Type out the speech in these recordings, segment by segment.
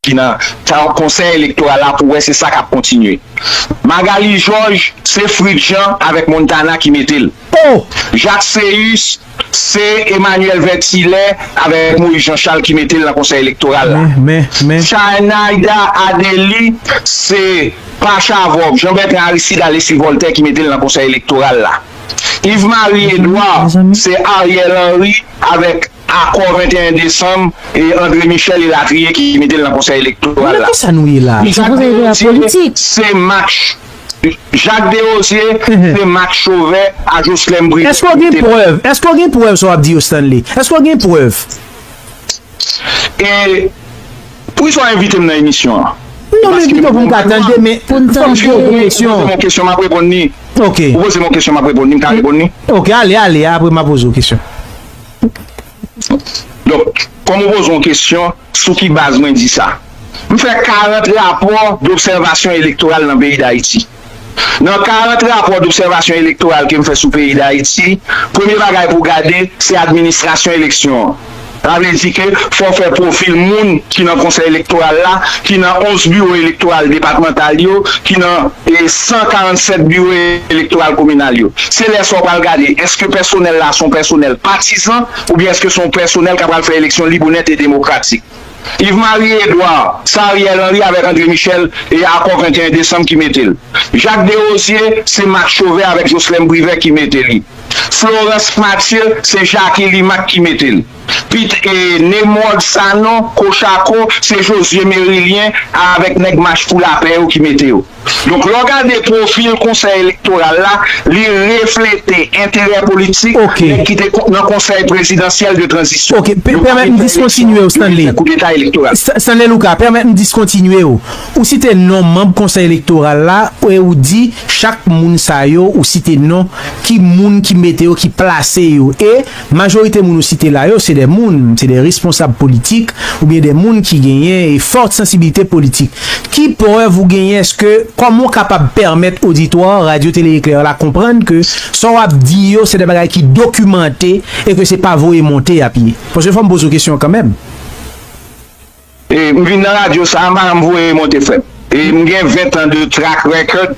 ki nan Ka konsèy elektoral la pou wè se sa kap kontinye Magalie Georges se Fritz Jean avèk Montana ki metel Jacques Céus se Emmanuel Vertillet avèk Moïse Jean Charles ki metel nan konsèy elektoral la Chanaida Adely se pa Chavòk Jean Bertrand Aristide Alexis Voltaire ki metel nan konsèy elektoral la. Yves Marie Edouard se Ariel Henry avèk akò 21 desanm e André Michel elatriye ki mete l nan konsèy elektoral la. Jacques Desrosiers se Mak Jacques Desrosiers se Mak Chauvet a Jocelerme Privert ki mete l. E pou iswa envitem nan emisyon an. Non men pito pou m ka tande men fòm si yo poze m yon kesyon map reponn li. Ok. Ou poze m yon kesyon map reponn li m ka reponn li? Ok ale ale apre ma poze w kesyon. Donk kòm ou poze yon kesyon sou ki baz mwen di sa. M fè 40 rapò dòbsèvasyon elektoral nan peyi Dayiti. Nan 40 rapò dobsèvasyon elektoral ke m fè sou peyi Dayiti, premye bagay pou w gade, se administrasyon eleksyon an. Sa vle di ke fò w fè pwofil moun ki nan Konsèy Elektoral la, ki nan 11 biwo elektoral depatmantal yo, ki nan 147 biwo elektoral kominal yo. Se lè sa w pral gade, èske pèsonèl la se yon pèsonèl patizan oubyen èske se yon pèsonèl ka pral fè eleksyon lib, onèt e demokratik. Yves Marie Edouard, sa Ariel Henry avèk André Michel e akò 21 desanm ki mete l. Jacques Derosier, se Marc Chauvet avèk Jocelerme Privert ki mete li. Florence Mathieu, se Jacky Limac ki mete l. Pit e Nemrod Sanon, Cochaco, se Josué Mérilien a avèk nèg Mach pou lapè yo ki mete yo. Donk lè w gade pwofil konsèy elektoral la, li reflete enterè politik nèg ki te nan konsèy prezidansyèl de tranzisyon. Ok, pèmèt m diskontinye w Stanley. Stanley Luka, pèmèt m diskontinye w. Ou site non manb konsèy elektoral la e ou di chak moun sa yo ou site non ki moun ki mete yo, ki plase yo e Majorite moun ou site la yo se de moun, se de responsab politik oubyen de moun ki genyen e fort sensibilite politik. Ki prèv ou genyen eske kòman ou kapab pèmèt oditwa Radio Télé Éclair la konprann ke sa w ap di yo se de bagay ki dokimante e ke se pa voye monte y ap ye? Paske fò m poze w kesyon an kanmenm. M vin nan radyo sa a, madanm voye monte frè m. M gen 20 tan de track record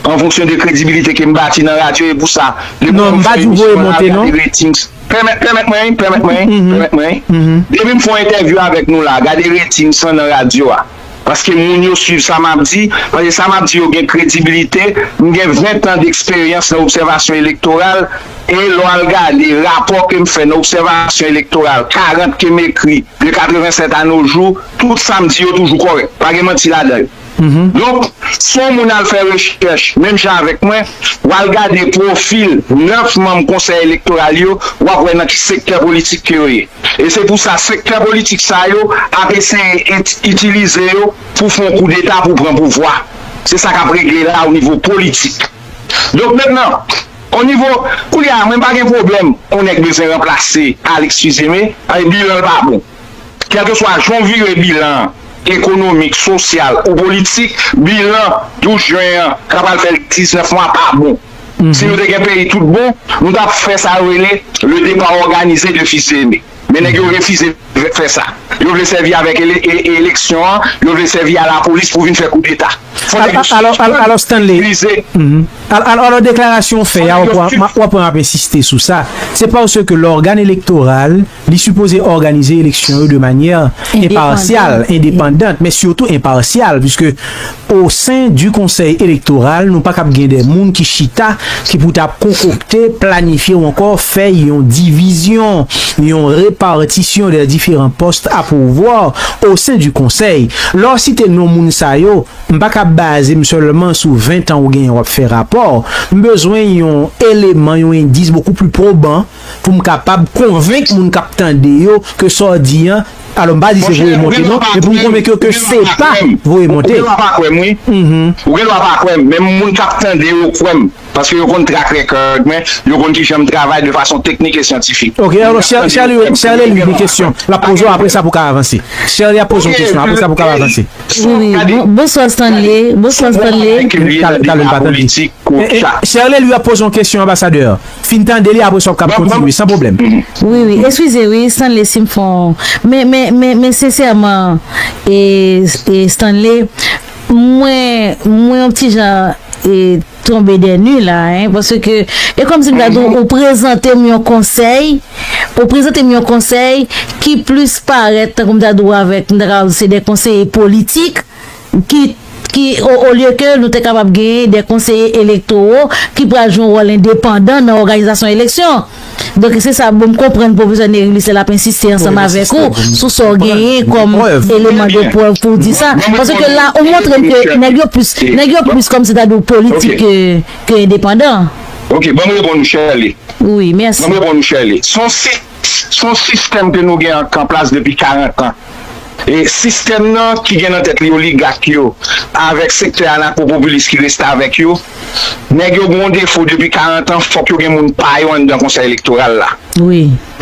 an fonksyon de kredibilite ke m bati nan radyo e pou sa depi lè m fè emisyon m ap gade ratings. Pèmèt mwen, pèmèt mwen, pèmèt mwen. Depi m fè yon entèvyou avèk nou la, gade ratings lan nan radyo a. Paske moun yo swiv sa m ap di, paske sa m ap di yo gen kredibilite. M gen 20 tan deksperyans nan obsèvasyon elektoral e lè w al gade rapò ke m fè nan obsèvasyon elektoral, 40 ke m ekri, De 87 a no jou, tout sa m di yo toujou kòrèk. Pa gen manti ladan yo. Donk, si yon moun al fè rechèch menm jan avèk mwen, w al gade pwofil 9 manm Konsèy Elektoral yo, w ap wè nan ki sektè politik ke yo ye. E se pou sa sektè politik sa yo ap eseye itilize yo pou fè yon koudeta pou pran pouvwa. Se sa k ap regle la o nivo politik. Donk mentnan. On nivo, koulye a mwen pa gen pwoblèm on nèg bezwen ranplase Alix Fils-Aimé, paske bilan l pa bon. Kèlkeswa jan w vire bilan an, ekonomik, sosyal ou politik, bilan 12 jen an k apral fè 19 mwa pa bon. Si nou te gen peyi tout bon, nou t ap fè sa yo rele le départ organisé de Fils-Aimé. Men nèg yo refize fè sa. Yo vle sèvi avèk eleksyon an, yo vle sèvi a lapolis pou vin fè koudeta. Fò nèg yo sivilize. Alò deklarasyon ou fè a, wap wè map ensiste sou sa, se paske lògan elektoral li sipoze òganize eleksyon yo de manyè enpasyal, endepandant, men sitou enpasyal, piske O sen di konsèy elektoral nou pa kab gen de moun ki chita ki pou ta konkokte, planifye ou ankò fè yon divizyon, yon repatisyon de diferan pòst a pouvwa o sen di konsèy. Lè w site non moun sa yo, m pa kab baze m sèlman sou 20 tan ou genyen w ap fè rapò. M bezwen yon eleman, yon endis bokou pli pwoban. pou m kapab konvenk moun k ap tande yo ke sa w di an, alò m pa di se voye monte non, men pou m konvenk yo ke se pa voye monte. Ou gen dwa pa kwè m wi, ou gen dwa pa kwè m, men moun k ap tande yo kwè m, paske yo konn track record mwen, yo konn kijan m travay de fason teknik e syantifik. Ok, alò Sherley li gen kesyon, l ap poze w apre sa pou w ka avanse. Sherley ap poze w kesyon, apre sa pou w ka avanse. Wi, wi, bonswa Stanley, bonswa Stanley. Talè m pa tande. Sherley li ap poze w kesyon, anbasadè. Fin tande li apres wap kap kontinye san problem. Wi wi eskuze wi Stanley sim fon men men men men sensèman e e Stanley mwen mwen yon ti jan e tonbe dè nu la hein paske e kòm si m ta di w ou prezante m yon konsèy ou prezante m yon konsèy ki plis parèt tankou m ta di w avèk m ta kapab di se de konseye politik ki, ki, o, olye ke nou te kapab genyen de konseye elektowo ki pral jwe yon wòl endepandan nan òganizasyon eleksyon. Donk, se sa bon m konprann pwofesè Nerilyse l ap ensiste ansanm avèk ou sou sa w genyen kòm eleman de prèv pou w di sa. Paske la ou montre m ke nèg yo plis, nèg yo plis kòmsitadi w politik ke, ke endepandan. Ok, ban m reponn ou Sherley. Wi, mèsi. Ban m reponn ou Sherley. S on sit. S on sistèm ke nou gen ank an plas depi 40 an. E sistèm nan ki gen nan tèt li oligak yo avèk sektè anakopopilis ki restavèk yo. Nèg yo gen yon defo depi 40 an, fòk yo gen moun pa yo anndan Konsèy Elektoral la.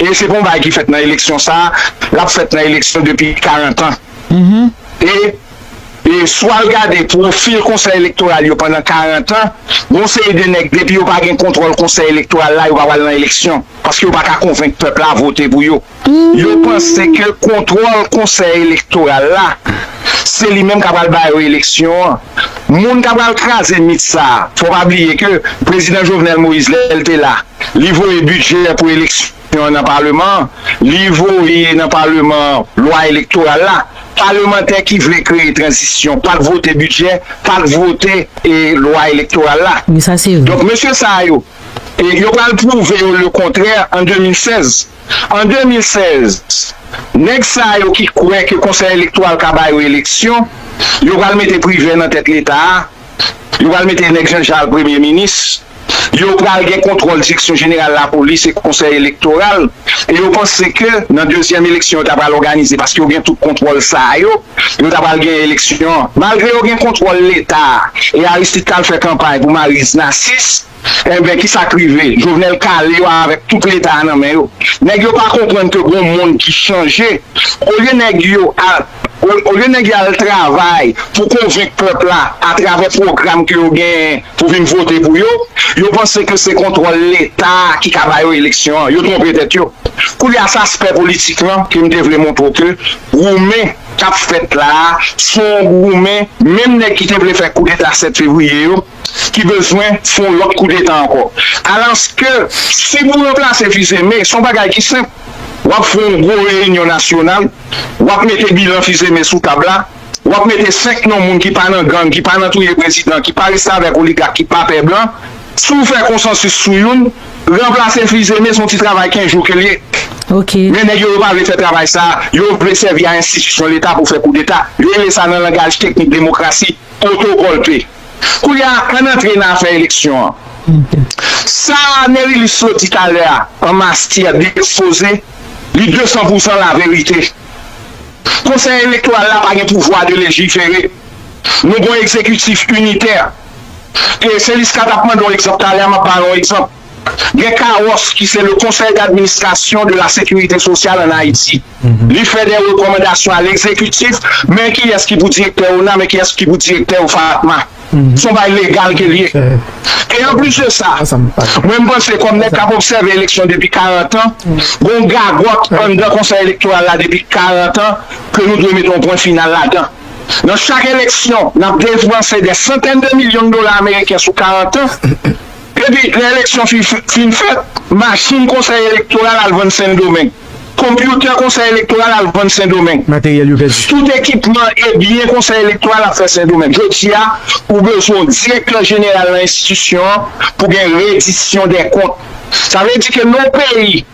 E se pa yon bagay ki fèt nan eleksyon sa a, l ap fèt nan eleksyon depi 40 an. E. E si w al gade pwofil konsèy elektoral yo pandan 40 an, gon seri de nèg depi yo pa gen kontwòl konsèy elektoral la yo pa pral nan eleksyon, paske yo pa ka konvenk pèp la vote pou yo. Yo panse ke kontwòl konsèy elektoral la se li menm ka pral ba yo eleksyon an. Moun ka pral kraze mit sa, fò w pa bliye ke prezidan Jovenel Moïse lè l te la, li voye bidjè pou eleksyon. Konstitisyon an nan Paleman an, li voye nan Paleman an lwa elektoral la. Palemantè ki vle kreye tranzisyon pa k vote bidjè, pa k vote lwa elektoral la. Donk mesye sa a yo, yo pral pwouve yo le kontrè an 2016. An 2016, nèg sa a yo ki kwè ke Konsèy Elektoral ka ba yo eleksyon, yo pral mete Privè nan tèt Leta a. Yo pral mete nèg janjal premye minis, yo pral gen kontwòl direksyon jeneral lapolis e konsèy elektoral e yo panse ke nan dezyèm eleksyon yo ta pral òganize paske yo gen tout kontwòl sa yo, yo ta pral gen eleksyon malgre yo gen kontwòl leta e Aristide t al fè kanpay pou Maryse Narcisse. Enben kisa k rive? Jovenel kale yo avèk tout leta a nan men yo. Nèg yo pa konprann ke gon mond ki chanje. Olye nèg yo al olye nèg yo al travay pou konvenk pèp la atravè pwogram ke yo genyen pou vin vote pou yo, yo panse ke se kontwòl leta a ki ka ba yo eleksyon an. Yo twonpe tèt yo. Koulye a se aspè politik lan ke m te vle montre w ke goumen k ap fèt la a se yon goumen menm nèg ki te vle fè koudeta 7 fevriye yo, ki bezwen fè yon lòt koudeta ankò. Alòske, si pou ranplase Fils-Aimé, se yon bagay ki senp, w ap fè yon gwo reyinyon nasyonal, w ap mete bilan Fils-Aimé sou tab la, w ap mete senk non moun ki pa nan gang, ki pa nan touye prezidan, ki pa restavèk oligak, ki pa pè blan. Si w fè konsansis sou youn, ranplase Fils-Aimé se yon ti travay kenz jou ke l ye. Men nèg yo, yo pa vle fè travay sa a. Yo vle sèvi a enstitisyon Leta pou fè koudeta. Yo rele sa nan langaj teknik demokrasi, otogòlpe. Koulye a, ann antre nan afè eleksyon an. Sa Nerilus Lo di talè a an mastyè byen ekspoze li desan pou san laverite. Konsèy elektoral la pa gen pouvwa de lejifere. Nou gen yon egzekitif initè. E se Liska t ap mande yon egzanp talè a, m ap ba yon egzanp. gen CAOF ki se le Conseil d'administration de la sécurité sociale en Haïti li fè de rekòmandasyon a l'exécutif men kiyès ki pou direktè ona men kiyès ki pou direktè OFAATMA son bagay legal ke li ye e an plis de sa mwen m panse kòm nèg kap obsève eleksyon depi 40 an gon gagòt anndan konsèy elektoral la depi 40 an ke nou dwe mete yon pwen final ladan nan chak eleksyon nap depanse dè santèn de milyon dola ameriken sou 40 an. Depi lè eleksyon fin fèt, machin konsèy elektoral al vann Sendomeng, konpyoutè konsèy elektoral al vann Sendomeng, Materyèl yo pèdi. Tout ekipman e byen konsèy elektoral ap fè Sendomeng. Jodi a, ou bezwen yon direktè jeneral nan enstitisyon an pou gen redisyon dè kont. Sa vle di ke non peyi.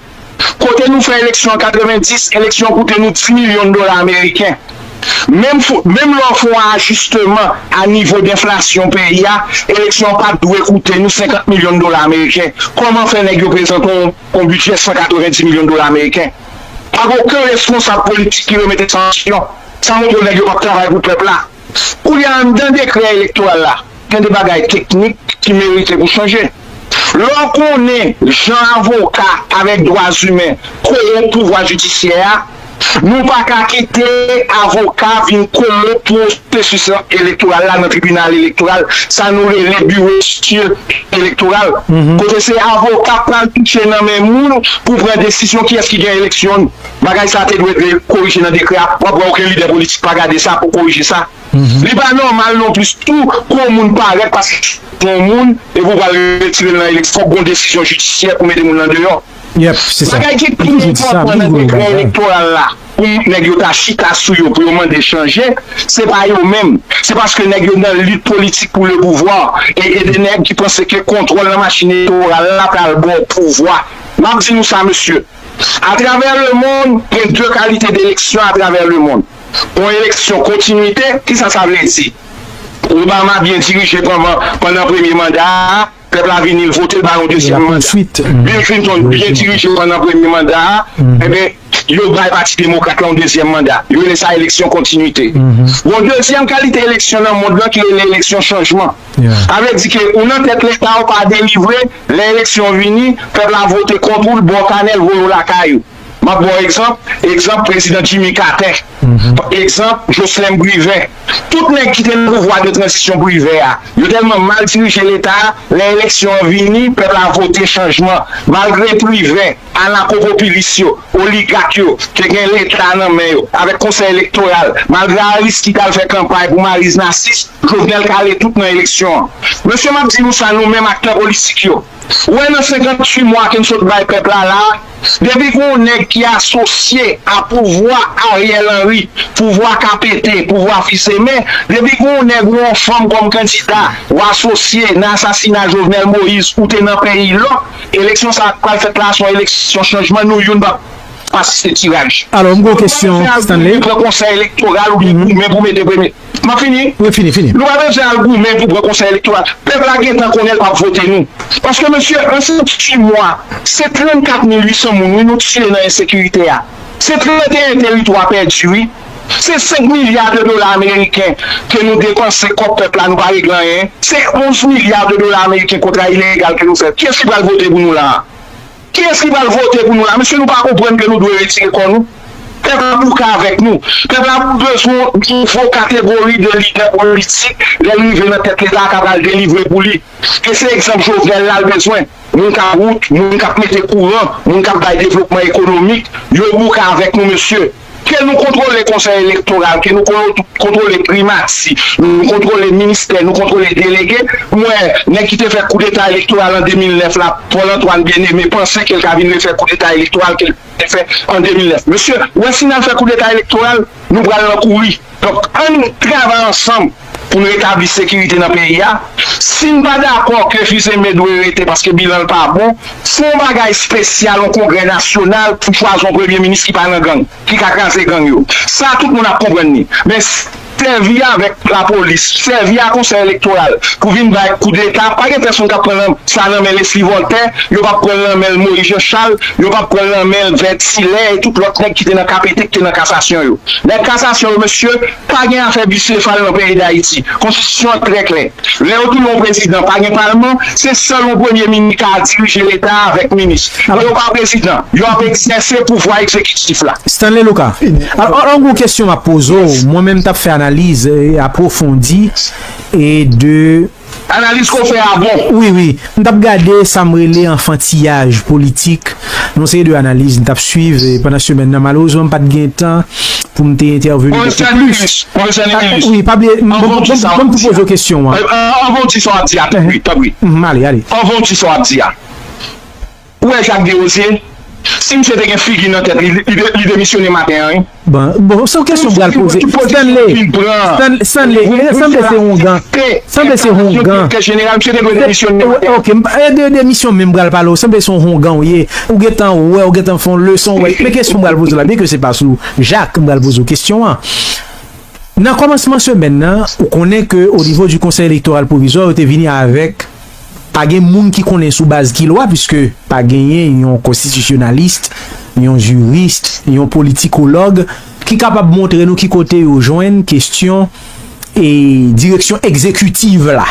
Kote nou fè eleksyon an 90, eleksyon an koute nou 10 milyon dola ameriken. Menm fo, menm lè w fè yon ajisteman a nivo denflasyon peyi a, eleksyon an pat dwe koute nou 50 milyon dola ameriken. Kòman fè nèg yo prezante yon yon bidjè 190 milyon dola ameriken? Pa gen oken responsab politik ki remete sa an kesyon. Sa montre nèg yo pap travay pou pèp la. Koulye a, anndan dekrè elektoral la, gen de bagay teknik ki merite pou chanje. Lè w konnen jan avoka avèk dwazimen kowonp pouvwa jidisyè a, nou pa ka kite avoka vin kowonp pwosesis elektoral la nan tribinal elektoral, sa nou rele biwo stil elektoral, kote se avoka k pral touche nan men moun pou pran desizyon kiyès ki gen eleksyon. Bagay sa te dwe dwe korije nan dekrè a, wap wè oken lidè politik pa gade sa pou korije sa. Li pa nòmal non plis tou pou yon moun parèt paske se yon moun epi ou pral retire l nan eleksyon, fòk gon desizyon jidisyè pou mete moun nan deyò. Bagay ki pi enpòtan nan dekrè elektoral la pou nèg yo ta chita sou yo pou yo mande chanje, se pa yo menm, se paske nèg yo nan lit politik pou le pouvwa e gen de nèg ki panse ke kontwòl nan machin elektoral la pral ba w pouvwa. Map di nou sa mesye. Atravè lemond, gen de kalite d'eleksyon atravè lemond. Yon eleksyon kontinwite, kisa sa vle di? Obama byen dirije panvan pandan premye manda a, pèp la vini l vote l ba yon dezyèm manda. Bill Clinton byen dirije pandan premye manda a, enben, yo bay pati demokrat la yon dezyèm manda. Yo rele sa eleksyon kontinwite. Gon dezyèm kalite eleksyon nan mond lan ki rele eleksyon chanjman. Sa vle di ke ou nan tèt leta ou pa delivre, lè eleksyon vini, pèp la vote kont ou, l ba w kanè, l voye w lakay ou. M ap ba w egzanp, egzanp prezidan Jimmy Carter, egzanp Joslèm Privè. Tout nèg ki te nan pouvwa de tranzisyon Privè a, yo tèlman mal dirije leta a, lè eleksyon an vini, pèp la vote chanjman, malgre Privè. Anakopopilis yo, oligak yo, ke gen leta nan men yo, avèk konsèy elektoral, malgre Aristid al fè kanpay pou Mariz Nasis, Jovenel kale tout nan eleksyon an. Mesye map di nou sa nou menm aktè politik yo, wè nan 58 mwa ke n sot bay pèp la la, depi gon nèg ki asosye a pouvwa Ariel Henry, pouvwa ka pete, pouvwa fizeme, depi gon nèg ou on fanm kòm kandida, ou asosye nan asasina Jovenel Moïse ou te nan peyi lòk, Eleksyon sa a k pral fèt la a se yon eleksyon chanjman, nou youn p ap asiste tiraj. Alò, m gen yon kesyon, Stanley. Pran konsèy elektoral ou byen goumen pou mete premye. M ap fini. Wi, fini, fini. Nou pa bezwen al goumen pou pran konsèy elektoral. Pèp la gentan konnen l p ap vote nou. Paske mesye, an 6 mwa, se 34 mil 800 moun wi nou tiye nan ensekirite a. Se 31 teritwa pèdi wi. Se 5 milya de dola ameriken ke nou depanse kòb pèp la nou pa regle anyen. Se 11 milya de dola ameriken kontra ilegal ke nou fè. Kiyès ki pral vote pou nou la a? Kiyès ki pral vote pou nou la a? Mesye nou pa konprann ke nou dwe retire kò nou? Pèp la bouke avèk nou. Pèp la bezwen yon nouvo kategori de lidè politik lè l rive nan tèt leta a ka pral delivre pou li. E se egzanp Jovenel la l bezwen. Moun k ap wout, moun k ap mete kouran, moun k ap bay devlopman ekonomik, yo bouke avèk nou mesye. Ke nou kontwole konsèy elektoral, ke nou kontwole primati, nou kontwole ministè, nou kontwole delege, m wè nèg ki te fè koudeta elektoral an 2009 la, Paul Antoine Bien Aimé panse ke l ka vin refè koudeta elektoral ke l te fè an 2009. Mesye, wè si n al fè koudeta elektoral, nou pral nan kouri. Donk ann travay ansanm pou n retabli sekirite nan peyi a. Si n pa dakò ke Fils-Aimé dwe rete paske bilan l pa bon, fè yon bagay spesyal, yon kongrè nasyonal pou chwazi yon premye minis ki pa nan gang, ki ka kraze gang yo. Sa tout moun ap konprann li. Men sèvi avèk lapolis, sèvi a konsèy elektoral pou vin bay koudeta, pa gen pèsonn k ap pran sa nan men Lesly Voltè, yo p ap pran l nan men Moïse Jean Charles, yo p ap pran l nan men Vert Hilaire e tout lòt nèg ki te nan KPT, ki te nan kasasyon yo. Nèg kasasyon yo mesye, pa gen afè bisefal nan peyi dayiti, konstitisyon an trè klè, lè yo touye yon prezidan pa gen palman, se sèl yon premye minis ka dirije leta a avèk minis, lè yo pa prezidan, yo ap egzèse pouvwa egzekitif la. Stanley Luka, Alò an gwo kesyon map poze w, mwen menm tap fè analiz apwofondi e de. Analyse ke w fè a bon. Wi wi, m tap gade sa m rele anfantiyaj politik nan yon seri de analiz m tap swiv pandan semèn nan. Malerezman m pat gen tan pou m te entèveni bokou plis. Pwofesè Némilus, Pwofesè Némilus, banm tou poze w kesyon an. Anvan w di sa w ap di a, tanpri, tanpri. Anvan w di sa w ap di a. Ou wè Jacques Derosier? Si misye te gen figi nan tèt li, li demisyone maten an wi. Bon, se yon kesyon m pral poze. Stanley, Stanley, Stanley, sanble se houngan, sanble se houngan. Ok, m pa, de demisyon menm m pral pale w, sanble se yon houngan w ye. Ou gen tan wè, ou gen tan fè yon leson wè. Men kesyon m pral poze w la, byen ke se pa sou Jacques m pral poze w kesyon an. Nan kòmansman semèn nan, ou konnen ke o nivo di Konsèy Elektoral Pwovizwa yo te vini avèk Pa gen moun ki konnen sou baz ki lwa piske pa genyen yon konstitisyonalist, yon jurist, yon politikològ ki kapab montre nou ki kote yo jwenn kestyon e direksyon ekzekitiv la.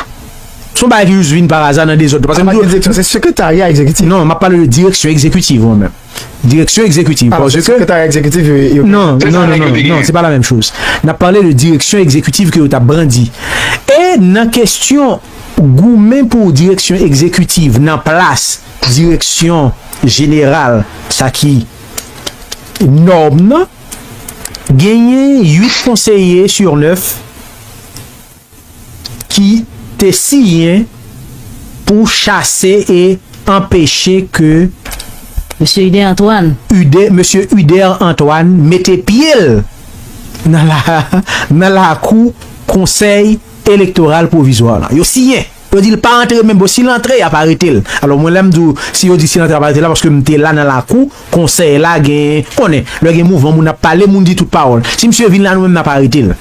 Son bagay ki jis vin paraza nan dezòd tou. Paske m di w. Se sekretarya ekzekitif. Non, m ap pale de direksyon ekzekitiv mwen menm. Direksyon ekzekitiv. Paske. Se sekretarya ekzekitif yo gen. Non, non, non, non, non, se pa la menm choz. N ap pale de direksyon ekzekitiv ke yo t ap brandi. E nan kestyon. Goumen pou direksyon egzekitiv nan plas direksyon jeneral sa ki nòm nan, genyen 8 konseye sur 9 ki te siyen pou chase e anpeche ke Mesye Ude Antoine. Mesye Ude Antoine mete pye l nan lakou konsèy elektoral pwovizwa la yo siyen yo dil pa antre men bon sil antre yap aretel alò mwen lèm diw si yo di sil antre ap arete la paske m te la nan lakou konsèy la gen konnen lè gen mouvman moun ap pale moun di tout pawòl si misye vin la nou menm nap aretel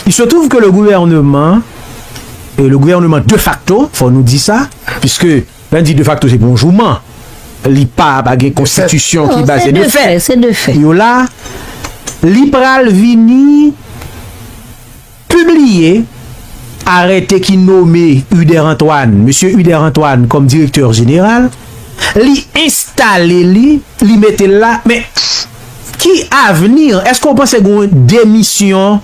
il se trouve ke le gouvèneman e le gouvèneman de facto fò nou di sa piske lè nou di de facto se pou yon jouman li pa pa gen konstitisyon ki baze de fè yo la li pral vini. Pibliye arète ki nome Uder Antoine, Mesye Uder Antoine, kòm direktè jeneral, li enstale li, li mete l la, men, ki avni? Èske ou panse gen yon demisyon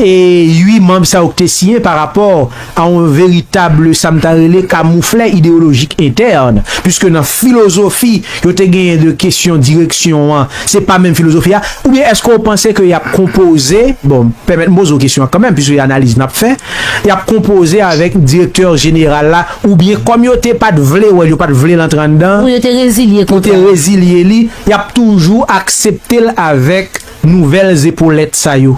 8 manb sa yo ki te siyen parapò a yon veritable sa m ta rele kamouflè ideyolojik entèn, puiske nan filozofi yo te genyen de kesyon direksyon an, se pa menm filozofi a, oubyen èske w panse ke y ap konpoze, bon, pèmèt m poze w kesyon an kanmenm, puiske se analiz n ap fè, y ap konpoze avèk direktè jeneral la, oubyen kòm yo te pa t vle wè l, yo pa t vle l antre anndan, pou yo te rezilye kontra a, yo te rezilye li, y ap toujou aksepte l avèk nouvèl zepolèt sa yo?